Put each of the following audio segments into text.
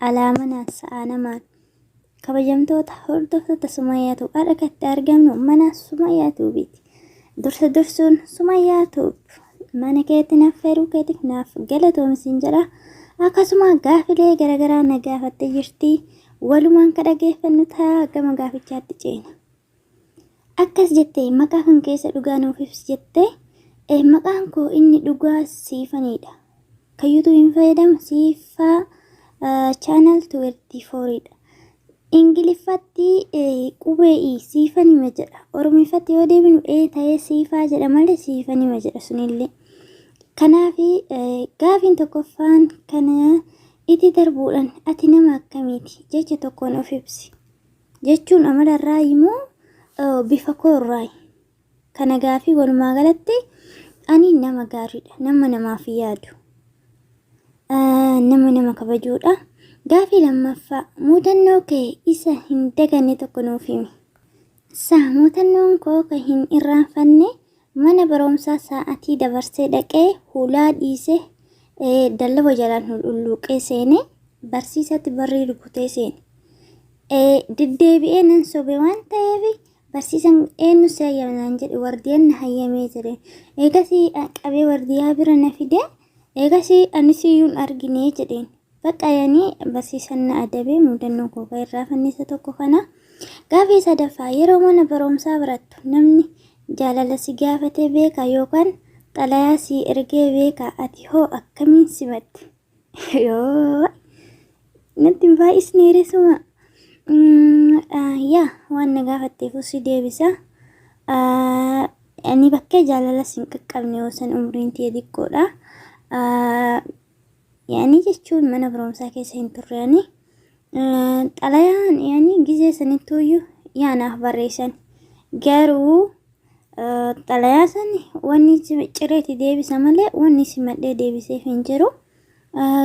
Alaa manaan sa'aa namaan. Kabajamtoota hordoftoota Sumayyaa Tuub har'a kan itti argamnu mana Sumayyaa Tuubiiti. Dursa dursuun Sumayyaa Tuub mana keetti naaf feeruu keetiif naaf galatoomi siin jedha. Akkasuma gaafilee garaagaraa na gaafattee jirti. Walumaan ka dhageeffannu ta'a gama gaafichaatti ceena. Akkas jette, Maqaa kan keessa dhugaa nuuf ibsi jette. Maqaan koo inni dhugaa Siifanidha. Kan yuutuubiin fayyadamu Siifaa chaanal 24 dha. Ingiliffatti qubee i siifanima jedha. Oromiffatti yoo deebinu ee ta'ee siifaa jedha malee siifanima jedha sunillee. Kanaaf gaafiin tokkoffaan kana itti darbuudhaan ati nama akkamiiti jecha tokkoon of ibsi. jechuun amala irraayi moo bifa koo irraayi? Kana gaafii walumaa galatti ani nama gaariidha. Nama namaaf yaadu. Nama nama kabajuudha. Gaafii lammaffaa muudannoo kee isa hin daganne tokko nuuf himi. Sa muudannoon koo kan hin irraanfanne Mana baromsaa saa'atii dabarsee dhaqee hulaa dhiise dallaba jalaan hul'ulluuqee seene barsiisatti barrii rukutee seene. Deddeebi'ee nan sobe waan ta'eef barsiisan eenyu si hayyame naan jedhe wardiyaan na hayyamee ture. Eegasii qabee wardiyaa bira na fide eegasii anis iyyuu hin argine jedheen. Baqqa yani barsiisan na adabee mudannoo koo kan irraa fannisa tokko kana. Gaafii sadaffaa yeroo mana barumsaa barattu namni jaalala si gaafatee beeka yookaan xalayaa si ergee beeka ati hoo akkamiin simatte? Yoo natti hin baay'isne resuma. Yaa waan na gaafatteef si deebisa. Ani bakkee jaalala sin qaqqabne yoo san umriin tiyya xiqqoodha. Yaanii jechuun mana barumsaa keessa hin turre ani. Xalayaan yaanii gizee sanittuuyyuu yaanaaf barreessan. Garuu xalayaa san wanni cireeti deebisa malee wanni simadhee deebiseef hin jiru.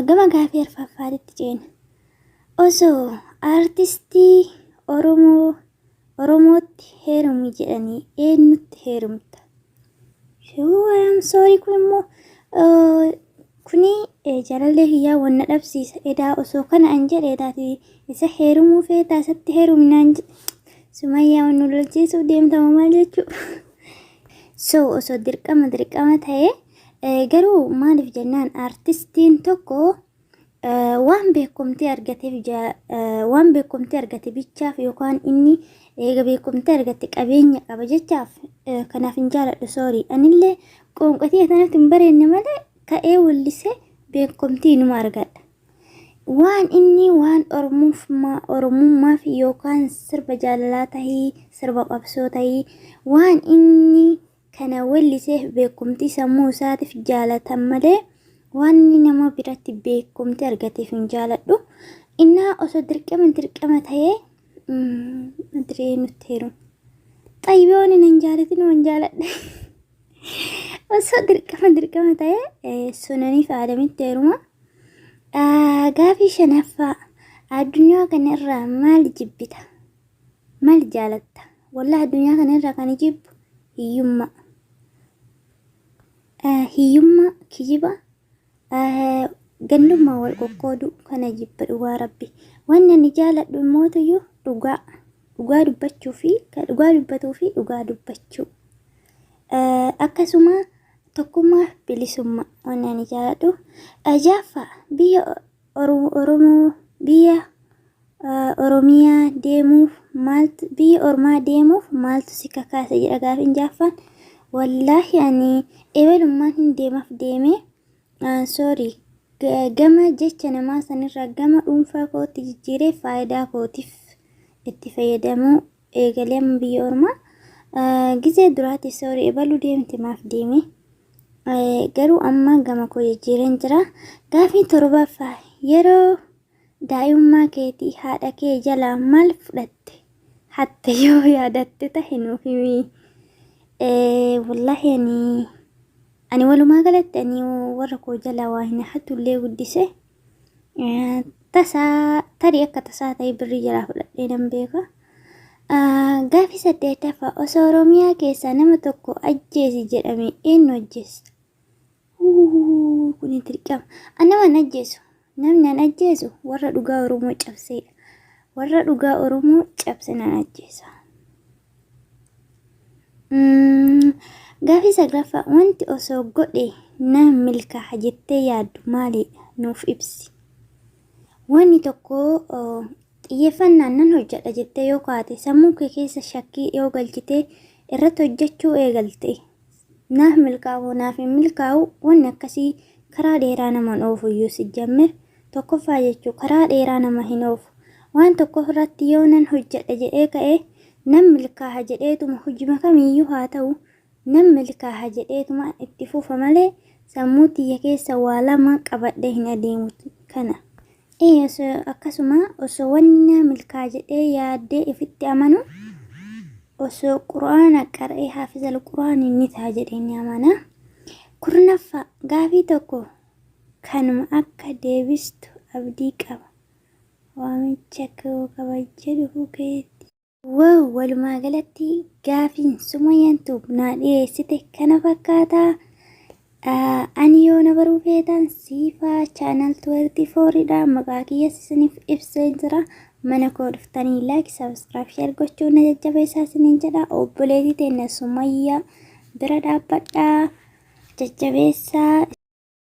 Gama gaafii arfaffaatitti ceena. Osoo artistii Oromoo Oromootti heerumi jedhanii eenyutti heerumta? Yoo I am sorry kun immoo eh, kuni eh, jaalallee kiyyaa wanna dhabsiisa edaa osoo kana an jedhe edaati isa heerumuu feetaa isatti heerumnaan jedhe sumayyaa wannu lolchiisuuf deemtama maal jechuu so osoo dirqama dirqama ta'e eh, garuu maaliif jennaan artistiin tokko waan beekumtii argateef waan beekumtii argate bichaaf yookaan inni eega beekumtii argate qabeenya qaba jechaaf kanaaf hin jaaladhu soorii anillee qoonqatii tanatti hin bareenne malee ka'ee wallisee beekumtii numa argadha. Waan inni waan oromummaaf yookaan sirba jaalalaa tahii sirba qabsoo tahii waan inni kana welliseef beekumtii sammuu isaatiif jaalatan malee wanni nama biratti beekumti argateef hin jaaladhu. Innaa osoo dirqama dirqama ta'ee diree nutti heeruun. Xayyiboonni nan jaalatin waan jaaladhe. Osoo dirqama dirqama ta'ee sunaniif aadamitti heeruma. Gaafii shanaffaa addunyaa kanarraa maal jibbita? Mal jaalatta? Wallah addunyaa kana irraa kan jibbu hiyyummaa. Eh, Hiyyummaa, kijiba, eh, gandummaa wal qoqqooduu kana jibba dhugaa rabbi. Wanni ani jaaladhu immootuyyuu dhugaa. Dhugaa dubbachuu fi kan dhugaa dubbatuu fi dhugaa dubbachuu. Eh, Akkasuma tokkummaa fi bilisummaa wanni ani jaaladhu. Eh, Jaaffaa biyya Oro- Oromoo biyya Oromiyaa deemuuf maaltu biyya ormaa deemuuf maaltu si kakaase jedha gaafiin jaaffaan. Wallaahi ani ebalummaan hin deemaf deeme sorry gama jecha namaa sanirraa gama dhuunfaa kootti jijjiiree faayidaa kootiif itti fayyadamuu eegalee amma biyya ormaa gizee duraati sorry ebaluu deemte maaf deeme garuu amma gama koo jijjiireen jira. Gaafii torbaffaa yeroo Daa'imummaa keetii haadha kee jalaa maal fudhatte, hatte yoo yaadatte tahe nuuf himi. Wallahi ani ani walumaa galatti ani warra koo jalaa waa hin hatu illee guddise. Tasaa tarii akka tasaa ta'e birrii jalaa fudhadhee nan beeka. Gaaffii saddeettaffaa osoo Oromiyaa keessaa nama tokko ajjeesi jedhame eenyu ajjeessa? Huhuhuhuu kuni dirqama. An nama hin ajjeesu. Namni an ajjeesu warra dhugaa Oromoo cabseedha. Warra dhugaa Oromoo cabse nan ajjeesa. Mm, Gaafii saglaffaa wanti osoo godhe na milkaaha jettee yaaddu maaliidha? Nuuf ibsi. Wanni tokko oh, xiyyeeffannaan nan hojjedha jettee yoo kaate sammuu kee keessa shakkii yoo galchitee irratti hojjechuu eegalte Naaf milkaa'uu naaf hin milkaa'u wanni akkasii karaa dheeraa nama hin oofu iyyuu sijjammir tokkoffaa jechuu karaa dheeraa nama hin oofu waan tokko irratti yoo nan hojjedha jedhee ka'e nan milkaaha jedheetuma hojima kamiiyyuu haa ta'u nan milkaaha jedheetuma itti fufa malee sammuu tiyya keessa waa lama qabadhee hin adeemu kana Eeyyes, akkasuma osoo wanni naa milkaa'a jedhee yaaddee ifitti amanu, osoo Qur'aana qara'ee haafizal Qur'aani ni ta'a jedhee ni amana. Kurnaffaa, gaafii tokko kanuma akka deebistu abdii qaba. Waamicha koo kabajjee dhufuu keeti. Wow walumaa galatti gaafiin sumayyaan tuub naa dhiyeessite kana fakkaata. Ah, Ani yoo na baruu feetan siifaa chaanal 24 dha maqaa kiyyas isiniif ibsee jira. Mana koo dhuftanii laayik sabiskiraayib sheer gochuun na jajjabeessaa isiniin jedha. Obboleetii teenna sumayyaa bira dhaabbadhaa jajjabeessaa.